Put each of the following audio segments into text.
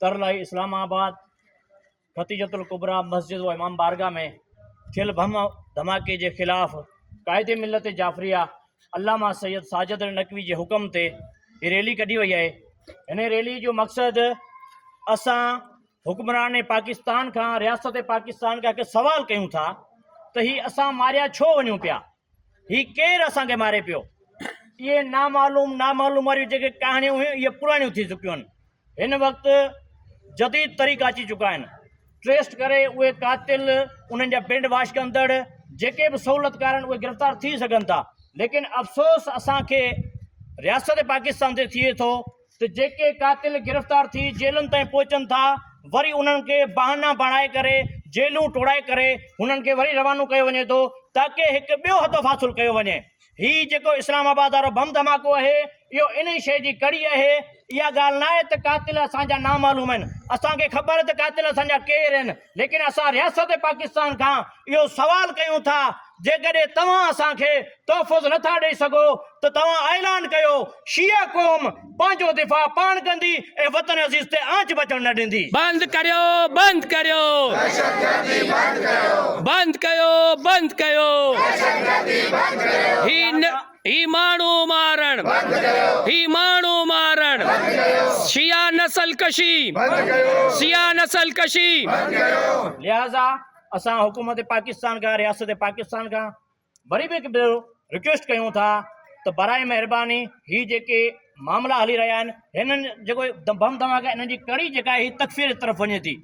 ترلاء Islamabad, Khadija Kubra مسجد و امام بارگاھ ۾ ٿيل بم ڌماڪي جي خلاف قائد ملت جعفريه علامه سيد ساجد نقوي جي حڪم تي هي ريلي ڪڍي وئي آهي هن ريلي جو مقصد اسان حڪمران پاڪستان کان رياست پاڪستان کان هڪ سوال ڪيون ٿا ته هي اسان ماريا ڇو وڃون پيا هي ڪير اسان کي ماري پيو؟ اهي نامعلوم نامعلوم واريون جيڪي ڪهاڻيون هيون اهي پراڻيون ٿي چڪيون آهن هن وقت جديد طريقا اچي چڪا آهن ٽريسٽ ڪري اهي قاتل انهن جا برينڊ واش ڪندڙ جيڪي به سهولتڪار آهن اهي گرفتار ٿي سگهن ٿا ليڪن افسوس اسان کي رياست پاڪستان تي ٿئي ٿو ته جيڪي قاتل گرفتار ٿي جيلن تائين پهچن ٿا وري انهن کي بهانا بڻائي ڪري جيلون ٽوڙائي ڪري هنن کي وري روانو ڪيو وڃي ٿو تاڪه هڪ ٻيو هدف حاصل ڪيو وڃي هي جيڪو اسلام آباد وارو بم ڌماڪو آهي اهو انهي شيء جي ڪڙي آهي اها ڳالهه ناهي ته قاتل اسان جا نامعلوم آهن اسان کي خبر ته قاتل اسان جا ڪير آهن ليڪن اسان رياست پاڪستان کان اهو سوال ڪيون ٿا جيڪڏهن توهان اسان کي تحفظ نه ٿا ڏئي سگهو ته توهان اعلان ڪيو شيعه قوم پنهنجو دفاع پاڻ ڪندي ۽ وطن عزيز تي آنچ بچڻ نه ڏيندي. بند ڪريو بند ڪريو دهشتگردي بند ڪيو بند ڪيو بند ڪيو دهشتگردي بند ڪيو هي نه. هي ماڻهو مارڻ بند ڪيو هي ماڻهو مارڻ بند ڪيو شيعا نسل ڪشي بند ڪيو شيعا نسل ڪشي بند ڪيو لهذا اسان حڪومت پاڪستان کان رياست پاڪستان کان وري به هڪ ڀيرو رڪويسٽ ڪيون ٿا ته براء مهرباني هي جيڪي معاملا هلي رهيا آهن هنن جيڪو بم ڌماڪا انهن جي ڪڙي جيڪا هي تڪفير جي طرف وڃي ٿي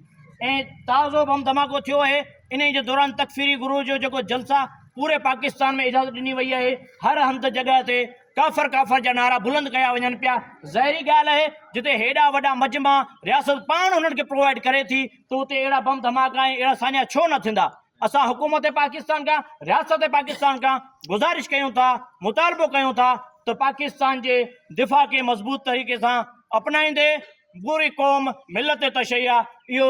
۽ تازو بم ڌماڪو ٿيو آهي انهي جي دوران تڪفيري گروه جو جيڪو جلسا پوري پاڪستان ۾ اجازت ڏني وئي آهي هر هنڌ جڳهه تي ڪافر ڪافر جا نعرا بلند ڪيا وڃن پيا ظاهري ڳالهه آهي جتي هيڏا وڏا مجمع رياست پاڻ انهن کي پرووائيڊ ڪري ٿي ته اتي اهڙا بم ڌماڪا ۽ اهڙا ساڃا ڇو نه ٿيندا اسان حڪومت پاڪستان کان رياست پاڪستان کان گذارش ڪيون ٿا مطالبو ڪيون ٿا ته پاڪستان جي دفاع کي مضبوط طريقي سان اپنائيندي پوري قوم ملت تشيع اهو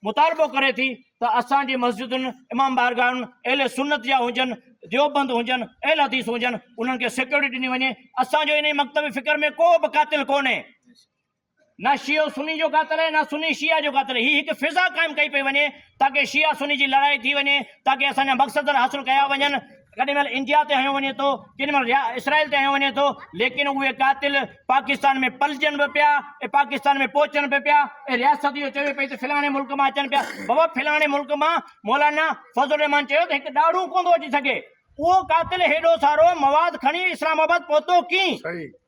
مطالبو ڪري ٿي ته اسان جي مسجدن امام بارگاهن اهل سنت جا هجن ديوبند هجن اهل حديث هجن انهن کي سيڪيورٽي ڏني وڃي اسان جو انهي مڪتب فڪر ۾ ڪو به قاتل ڪونهي نه شيعو سني جو قاتل آهي نه سني شيعه جو قاتل آهي هي هڪ فضا قائم ڪئي پئي وڃي تاڪه شيعه سني جي لڙائي ٿي وڃي تاڪه اسان جا مقصد حاصل ڪيا وڃن ڪڏهن مهل انڊيا تي هنيو وڃي ٿو ڪن مهل اسرائيل تي هنيو وڃي ٿو ليڪن اهي قاتل پاڪستان ۾ پلجن به پيا ۽ پاڪستان ۾ پهچن به پيا ۽ رياست اهو چوي پئي ته فلاڻي ملڪ مان اچن پيا بابا فلاڻي ملڪ مان مولانا فضل الرحمان چيو ته هڪ ڏاڙهون ڪونه ٿو اچي سگهي اهو قاتل هيڏو سارو مواد کڻي اسلام آباد پهتو ڪيئن